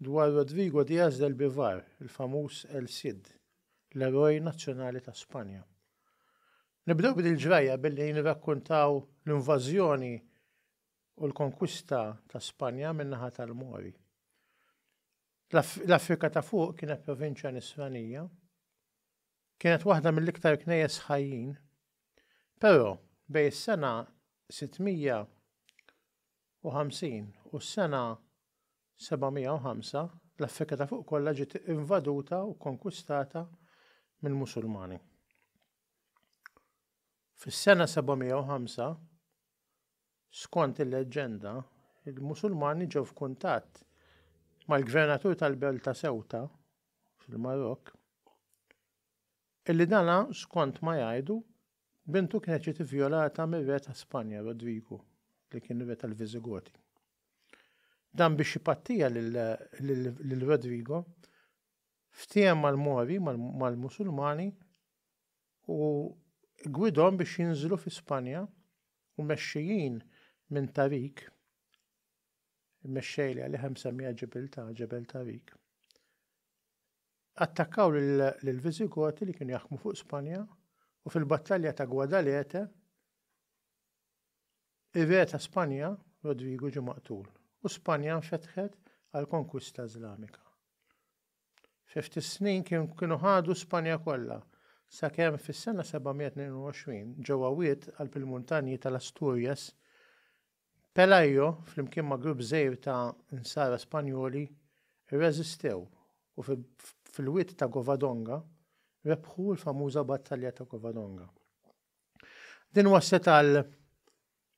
Dwar Rodrigo Diaz del Bivar, il-famuż El Cid, l-eroj nazzjonali ta' Spanja. Nibdew b'din il-ġrajja billi nirrakkuntaw l-invażjoni u l-konkwista ta' Spanja min-naħa tal-Mori. L-Afrika ta' fuq kienet provinċja nisranija, kienet waħda mill-iktar knejjes ħajjin, però bej is-sena 600 750 u s-sena 705, l-Afrika ta' Fuq kollha ġiet invaduta u kkonkwistata mill-Musulmani. Fis-sena 705, skont il-leġġenda, il-Musulmani ġew f'kuntatt mal-gvernatur tal-belt ta' Ceuta fil-Marokk, illi dana skont ma jgħidu Bintu kienet ġiet ivjolata mir-re ta' Spanja, Rodrigu, li kien ir-re tal-Visigoti. Dan biex jipattija lil Rodrigo, ftiehem mal-Mori, mal-Musulmani, u gwidhom biex jinżlu fi Spanja u mexxijin minn Tariq, il-mexxej li għalih hemm msemmija ġibiltà, Ġebel Tariq, Attakkaw lill-Visigoti li kienu jaħkmu fuq Spanja u fil-battalja ta' Guadalete ir-re ta' Spanja, Rodrigu ġie maqtul u Spanja nfetħet għall-konkwista Iżlamika. Fi ftit snin kienu ħadu Spanja kollha, sakemm fis-sena 722 ġew għawiet qalb il-muntanji tal-Asturias Pelayo, flimkien ma' grupp żgħir ta' Nsara Spanjoli, irreżistew u fil-Wied ta' Covadonga rebħu l-famuża Battalja ta' Covadonga. Din wasslet għal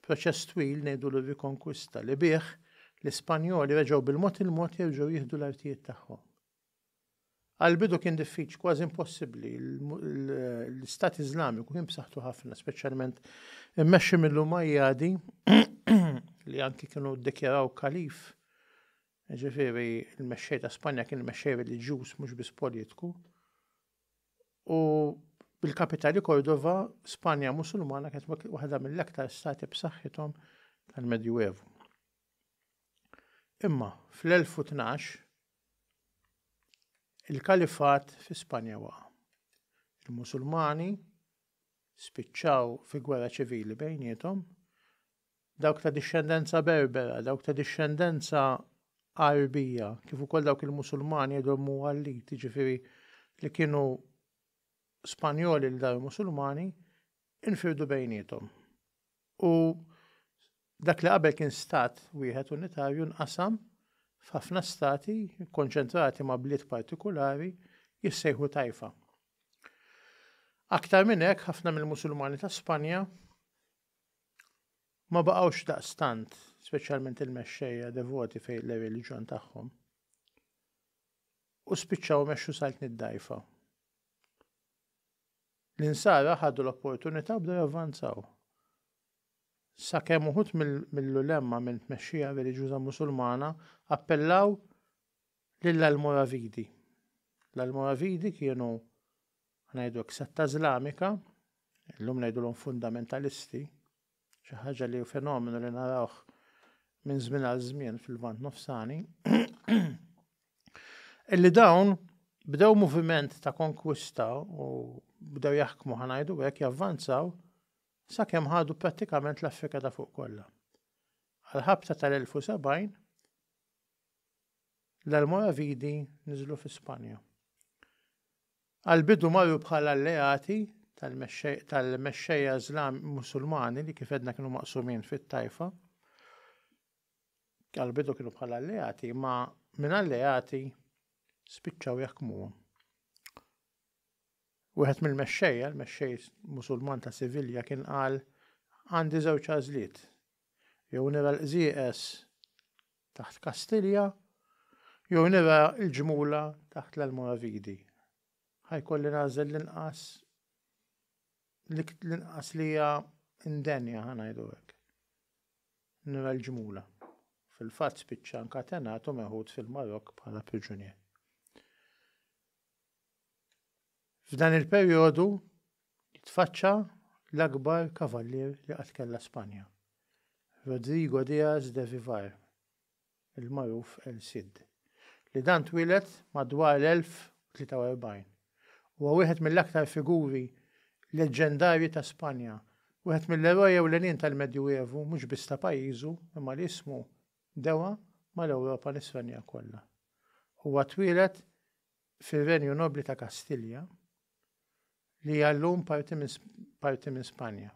proċess twil ngħidulu r-rikonkwista li bih l-Ispanjoli reġgħu bil-mod il-mod jerġgħu jieħdu l-artijiet tagħhom. Għall-bidu kien diffiċli, kważi impossibbli. L-Istat Iżlamiku kien b'saħħtu ħafna, speċjalment immexxi mill-Umajjadi li anki kienu ddikjaraw kalif. Ġifieri l-mexxej ta' Spanja kien mexxej reliġjuż mhux biss politku. U bil-kapitali Kordova, Spanja Musulmana kienet waħda mill-aktar stati b'saħħithom tal-Medjuevu. Imma fl-1012 Il-Kalifat fi Spanja waqa'. Il-Musulmani spiċċaw fi gwerra ċivili bejniethom. Dawk ta' dixxendenza Berbera, dawk ta' dixxendenza Għarbija, kif ukoll dawk il-Musulmani għedhom Muwallit, jiġifieri li kienu Spanjoli li daru Musulmani, infirdu bejniethom. U Dak li qabel kien stat wieħed unitarju nqasam f'ħafna stati kkonċentrati ma' bliet partikulari jissejħu Taifa. Aktar minn hekk, ħafna mill-Musulmani ta' Spanja ma baqgħux daqstant, speċjalment il-mexxejja devoti fejn l-reliġjon tagħhom, u spiċċaw mexxu sajt nid-dajfa. L-insara ħadu l-opportunità bdew javvanzaw. sakemm uħud mill-ulemma minn tmexxija reliġjuża Musulmana appellaw lill-Almoravidi. L-Almoravidi kienu ngħidu hekk setta Iżlamika, illum ngħidulhom fundamentalisti, xi ħaġa li fenomenu li narawh minn żmien għal żmien fil-Vant Nofsani, illi dawn bdew moviment ta' konkwista u bdew jaħkmu ħanajdu hekk javvanzaw sakemm ħadu prattikament l-Afrika ta' fuq kollha. Għal-ħabta tal-1070, l-Almoravidi niżlu fi Spanja. Għal-bidu marru bħala alleati tal-mexxejja Islam Musulmani li kif edna kienu maqsumin fit-tajfa. Għal-bidu kienu bħala alleati, ma minn alleati spiċċaw jaħkmuhom. Wieħed mill-mexxejja, l-mexxej Musulman ta' Sivilja kien qal, Għandi żewġ għażliet. Jew nira l-qżieqeż taħt Kastilja, jew nira l-ġmula taħt l-Almoravidi. Ħajkolli nagħżel l-inqas l-inqas li hija indenja ħa ngħidu hekk. Nira l-ġmula. Fil-fatt spiċċa nkatenat u meħud fil-Marok bħala priġunier. F'dan il-perjodu jitfaċċa l-akbar kavallier li qatt kellha Spanja, Rodrigo Diaz de Vivar, il-magħruf El Cid, li dan twieled madwar l-1043. Huwa wieħed mill-aktar figuri leġġendarji ta' Spanja, wieħed mill-eroj ewlenin tal-Medjuevu mhux biss ta' pajjiżu imma li ismu dewa mal-Ewropa nisranija kollha. Huwa twieled fir-Renju Nobbli ta' Kastilja, li hija llum parti minn Spanja.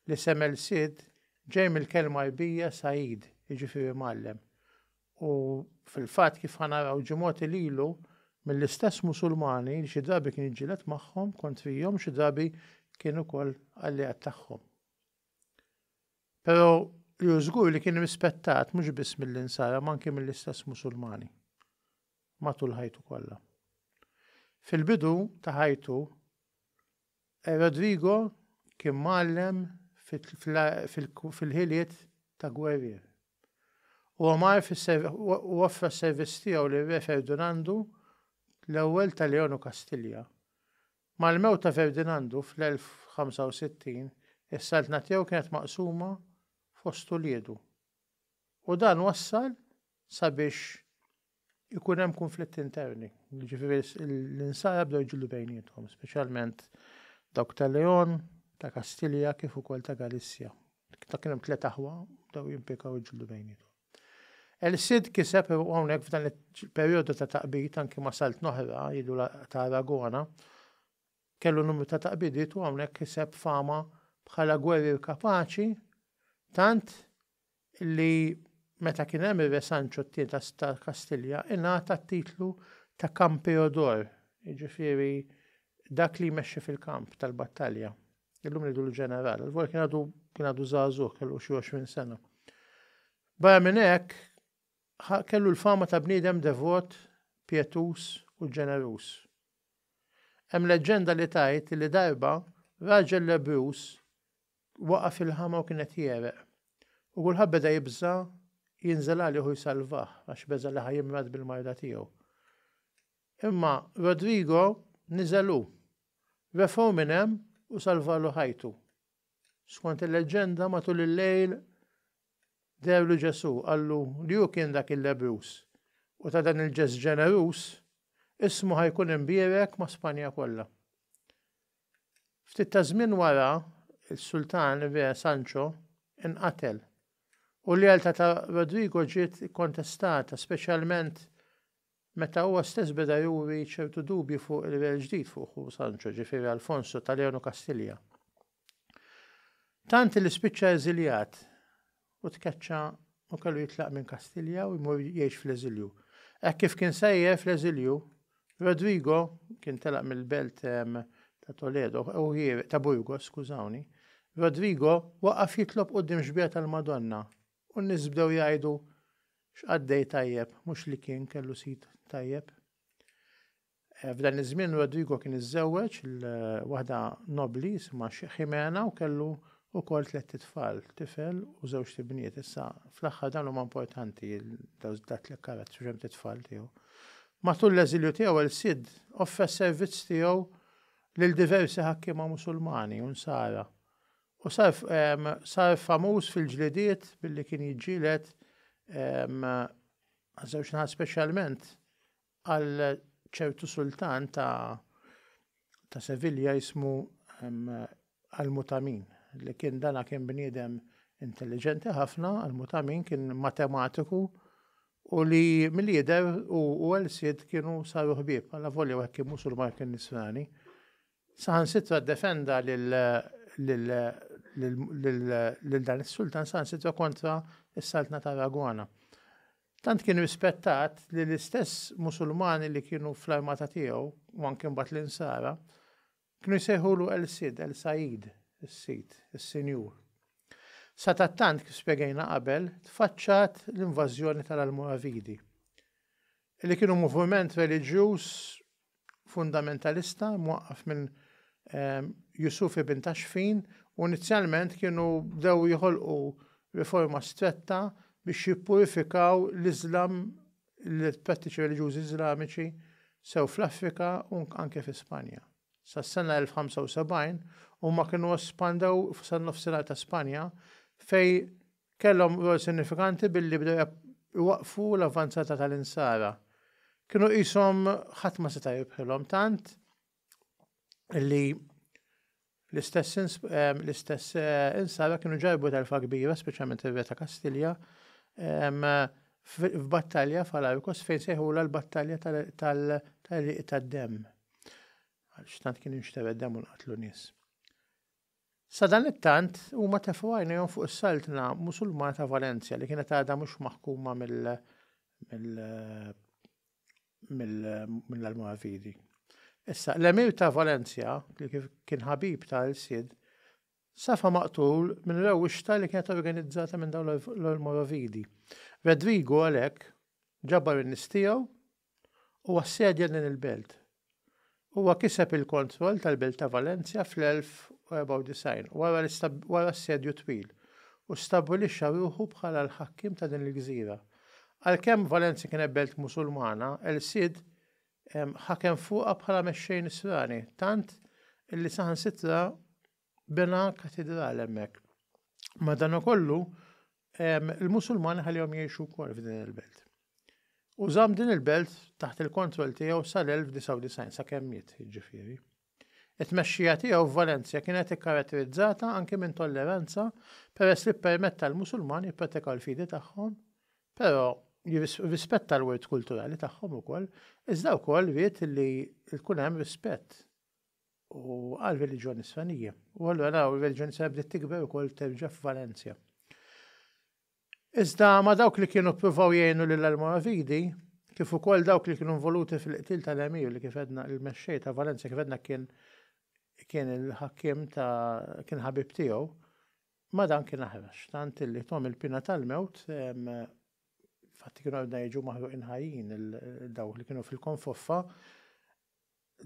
L-isem El Cid ġej mill-kelma Għarbija Said, jiġifieri mgħallem, u fil-fatt kif ħa naraw ġie mogħti lilu mill-istess Musulmani li xi drabi kien jiġġieled magħhom kontrihom u xi drabi kien ukoll alleat tagħhom. Però li hu żgur li kien rispettat mhux biss mill-Insara ma anki mill-istess Musulmani. matul ħajtu kollha. Fil-bidu ta' ħajtu, Rodrigo kien mgħallem fil-ħiliet ta' gwerrier. Huwa mar u offra s-servizz tiegħu lil Re Ferdinandu l-Ewwel ta' Leon u Kastilja. Mal-mewt ta' Ferdinandu fl-1065, is-saltna tiegħu kienet maqsuma fost uliedu. U dan wassal sabiex ikun hemm kunflitt interni. Ġifieri l-insara bdew jġillu bejniethom, speċjalment dawk ta' Leon, ta' Kastilja kif ukoll ta' Galissja. Ta' kien hemm tliet aħwa bdew jimpjekaw jġillu bejniethom. El Cid kiseb u hawnhekk f'dan il-perjodu ta' taqbid anki ma' salt noħra jidu ta' Aragona kellu numru ta' taqbidiet u hawnhekk kiseb fama bħala gwerrier kapaċi tant li meta kien hemm ir-Re Sancho t-Tieni ta' Kastilja ingħata t-titlu ta' Campeodor, jiġifieri dak li jmexxi fil-kamp tal-battalja. Illum ngħidulu ġeneral, għalvor kien għadu kien għadu żagħżugħ kellu xi 20 sena. Barra minn hekk, kellu l-fama ta' bniedem devot, pjetuż u ġeneruż. Hemm leġġenda li tgħid li darba raġel lebruż Waqa' fil-ħama u kien qed jegħreq. U kulħadd beda jibża' jinżel għalih u jsalvah, għax beża' li ħa jimrad bil-marda tiegħu. Imma Rodrigo niżel hu, refgħu minn hemm u salvalu ħajtu. Skont il-leġġenda, matul il-lejl dehru Ġesù qallu li hu kien dak il-lebbruż u ta' dan il-ġest ġeneruż ismu ħa jkun imbierek ma' Spanja kollha. Ftit ta' żmien wara, is-Sultan Re Sancho inqatel, u l-lealtà ta' Rodrigo ġiet ikkontestata, speċjalment meta huwa stess beda juri ċertu dubji fuq ir-Re l-ġdid fuq ħu Sancho, ġifieri Alfonso ta' Leon u Kastilja. Tant li spiċċa eżiljat. u tkeċċa u kellu jitlaq minn Kastilja u jmur jgħix fl-eżilju. Hekk kif kien sejjer fl-eżilju, Rodrigo kien telaq mill-belt ta' Toledo, u ta' Burgos, skużawni, Rodrigo waqaf jitlob qudiem xbieha tal-Madonna u n-nies bdew jgħidu x'qaddej tajjeb mhux li kien kellu sid tajjeb. F'dan iż-żmien Rodrigo kien iżżewweġ il waħda nobbli jisimha Ximena u kellu wkoll tlett itfal, tifel u żewġt ibniet. Issa, fl-aħħar dawn huma importanti dat-tlett karazzi u xemx itfal tiegħu. Matul l-eżilju tiegħu El Cid offra s-servizz tiegħu lil diversi ħakkiema Musulmani u Nsara u sar sar famuż fil-ġlidiet billi kien jiġġieled għaż-żewġ naħat speċjalment Għal ċertu sultan ta' ta' Sevilja jismu Al-Mutamin, li kien dana kien bniedem intelliġenti ħafna, Al-Mutamin kien matematiku u li milli jidher hu u Al-Sid kienu saru ħbieb, allavolja wieħed kien Musulman kien Nisrani. Saħansitra ddefenda lil lil lil lil dan is-sultan saħansitra kontra s-Saltna ta' Araguana. Tant kien rispettat li l-istess Musulmani li kienu fl-armata tiegħu, u anki mbagħad l-Insara, kienu jsejħulu El-Sid, El-Sayyid, is-Sid, is-Sinjur. Sadattant, kif spjegajna qabel, tfaċċat l-invażjoni tal-Almoravidi, li kienu moviment reliġjuż fundamentalista mwaqqaf minn ehm, Yusuf ibn Taxfin u inizjalment kienu dew jħolqu riforma stretta biex jippurifikaw l-Iżlam l-prattiċi reliġjużi Iżlamiċi sew fl-Afrika u anke fi Spanja. Sa sena 1075 huma kienu espandew f'san nofsinhar ta' Spanja fej Kellhom rwol sinifikanti billi bdew iwaqqfu l-avvanzata tal-Insara. Kienu qishom ħadd ma seta' jirbħilhom tant li l-istess Insara kienu ġarrbu telfa kbira, speċjalment ir-Re ta' Kastilja, f'battalja f'Alarcos fejn sejħulha l-battalja tal-għerieq tad-demm. Għaliex tant kien jinxtered demm u nqatlu nies. Sadanittant, huma tefgħu għajnejhom fuq is-Saltna Musulmana ta' Valencia li kienet għadha mhux maħkuma mill mill-Almoravidi. Issa, l-Emir ta' Valencia, li kien ħabib ta' l-Sid, safa maqtul minn rewwixta li kienet organizzata minn dawn l-Almoravidi. Rodrigo għalhekk ġabar in-nies tiegħu u assedja din il-belt. Huwa kiseb il-kontroll tal-belt ta' Valencia fl-1094 wara assedju twil u stabbilixxa ruħu bħala l-ħakkiem ta' din il-gżira. Għalkemm Valencia kienet belt Musulmana, El Cid ħakem fuqha bħala mexxej Nisrani, tant li saħansitra bena katidral hemmhekk. Madanakollu, il-Musulmani ħalihom jgħixu wkoll f'din il-belt. U żamm din il-belt taħt il-kontroll tiegħu sal-1999 sakemm miet, ġifieri. It-tmexxija tiegħu f'Valenzja kienet ikkaratterizzata anki minn tolleranza peress li ppermetta l-Musulmani jippratikaw l-fidi tagħhom, però rispetta l-wirt kulturali tagħhom ukoll, iżda wkoll ried li tkun hemm rispett u għar-reliġjoni Nisranija. U allura naraw ir-reliġjoni Nisranija bdiet tikber ukoll terġa' f'Valencia. Iżda ma' dawk li kienu ppruvaw jgħinu lil Almoravidi, kif ukoll dawk li kienu involuti fil-qtil tal-Emir li kif edna il-mexxej ta' Valencia kif edna kien kien il-ħakkim ta' kien ħabib tiegħu, ma' dan kien aħrax. Tant li tom il-pina tal-mewt fatt kienu għadna jiġu maħruqin ħajjin dawk li kienu fil-konfoffa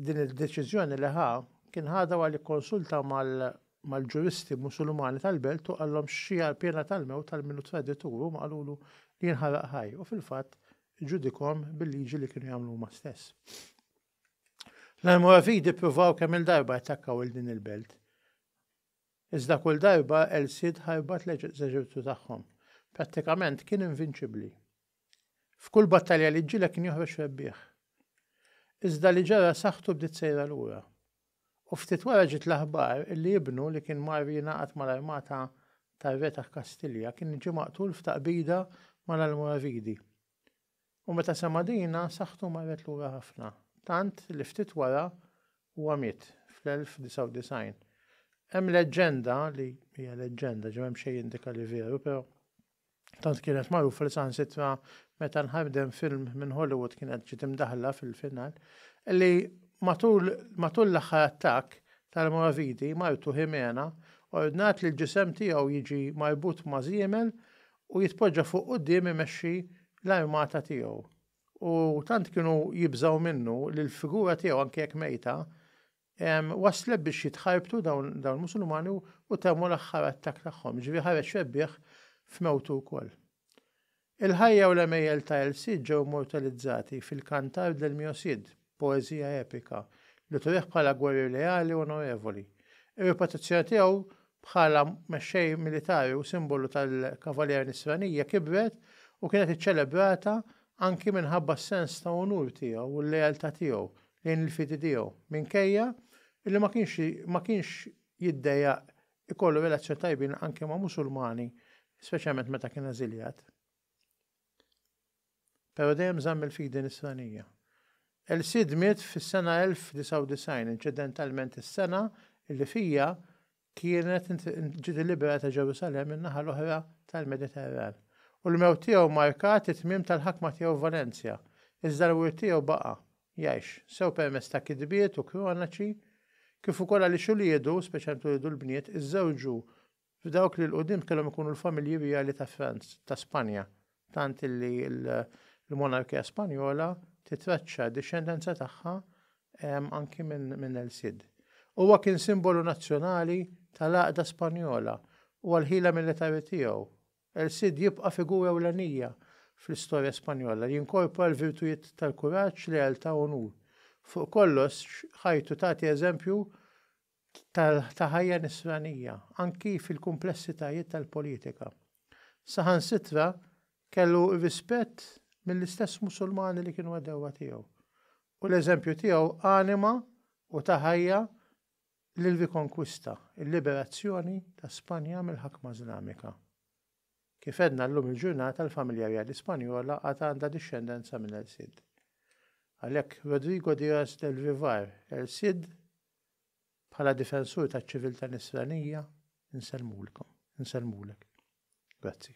din id-deċiżjoni li ħa kien ħadha wara li kkonsulta mal-ġuristi Musulmani tal-belt u qallhom xi għall-pjena tal-mewt għal min hu traditur huma qalulu li jinħaraq ħaj u fil-fatt iġġudikhom bil-liġi li kienu jagħmlu huma stess. L-Almoravidi ppruvaw kemm il-darba jattakkaw il din il-belt. Iżda kull darba El Cid ħarbat l-eżerċitu tagħhom. Prattikament kien invinċibbli. F'kull battalja li ġġieled kien joħroġ rebbieħ. Iżda li ġara saħħtu bdiet sejra lura. U ftit wara ġiet l-aħbar illi ibnu li kien mar jingħaqad mal-armata tar-re ta' Kastilja kien ġie maqtul f'taqbida mal-Almoravidi. U meta sema' din, saħħtu marret lura ħafna, tant li ftit wara huwa miet, fl-1099. Hemm leġġenda li, hija leġġenda, ġo m'hemm xejn jindika li veru, però Tant kienet magħrufa li saħansitra meta nħadem film minn Hollywood kienet ġiet imdaħħla fil-final, li matul matul l-aħħar attakk tal-moravidi, martu Ximena ordnat li l-ġisem tiegħu jiġi marbut ma' żiemel u jitpoġġa fuq quddiem imexxi l-armata tiegħu. U tant kienu jibżgħu minnu li l-figura tiegħu anke jekk mejta, wasslet biex jitħarbtu dawn il-Musulmani u temmu l-aħħar attakk tagħhom, jiġifieri ħareġ rebbieħ f'mewtu wkoll. Il-ħajja u l-għemejjel ta' El Cid ġew immortalizzati fil-Cantar del Mio Cid, poeżija epika, li turih bħala gwerrier leali u onorevoli. Ir-reputazzjoni tiegħu bħala mexxej militari u simbolu tal-Cavalier Nisranija kibret u kienet iċċelebrata anki minħabba s-sens ta' unur tiegħu u l-lealtà tiegħu lejn il-fidi tiegħu, minkejja li ma kienx ma kienx jiddejjaq ikollu relazzjoni tajbin anke ma' Musulmani, speċjalment meta kien eżiljat. Però dejjem żamm il-fidi nisranija. El Cid miet fis-sena 1099, inċidentalment is-sena li fija kienet ġi deliberata Ġerusalemm in-naħa l-oħra tal-Mediterran, u l-mewt tiegħu mmarkat it-tmiem tal-ħakma tiegħu f'Valencia, iżda l-wirt tiegħu baqa' jgħix, sew permezz ta' kitbiet u kronaċi, kif ukoll għaliex uliedu, speċjalment uliedu l-bniet, iżżewġu f'dawk li 'l quddiem kellhom ikunu l-familji rjali ta' Franz, ta' Spanja, tant li l-monarkija Spanjola titraċċa d-dixxendenza tagħha anki minn El Cid. Huwa kien simbolu nazzjonali tal-għaqda Spanjola u għall-ħila militari tiegħu. El Cid jibqa' figura ewlenija fl-istorja Spanjola li jinkorpora l-virtujiet tal-kuraġġ, lealtà u unur. Fuq kollox, ħajtu tagħti eżempju ta' ħajja nisranija, anki fil-kumplessitajiet tal-politika. Saħansitra kellu rispett mill-istess Musulmani li kienu għedewwa tiegħu, u l-eżempju tiegħu anima u ta ħajja lill-rikonkwista, il-liberazzjoni ta' Spanja mill-ħakma Iżlamika. Kif għedna llum il-ġurnata l-familja rjali Spanjola għad għandha dixxendenza minn El Cid. Għalhekk Rodrigo Diaz del Vivar, El Cid Bħala difensur taċ-ċiviltà Nisranija, insellmulkom, insellmulek. Grazzi.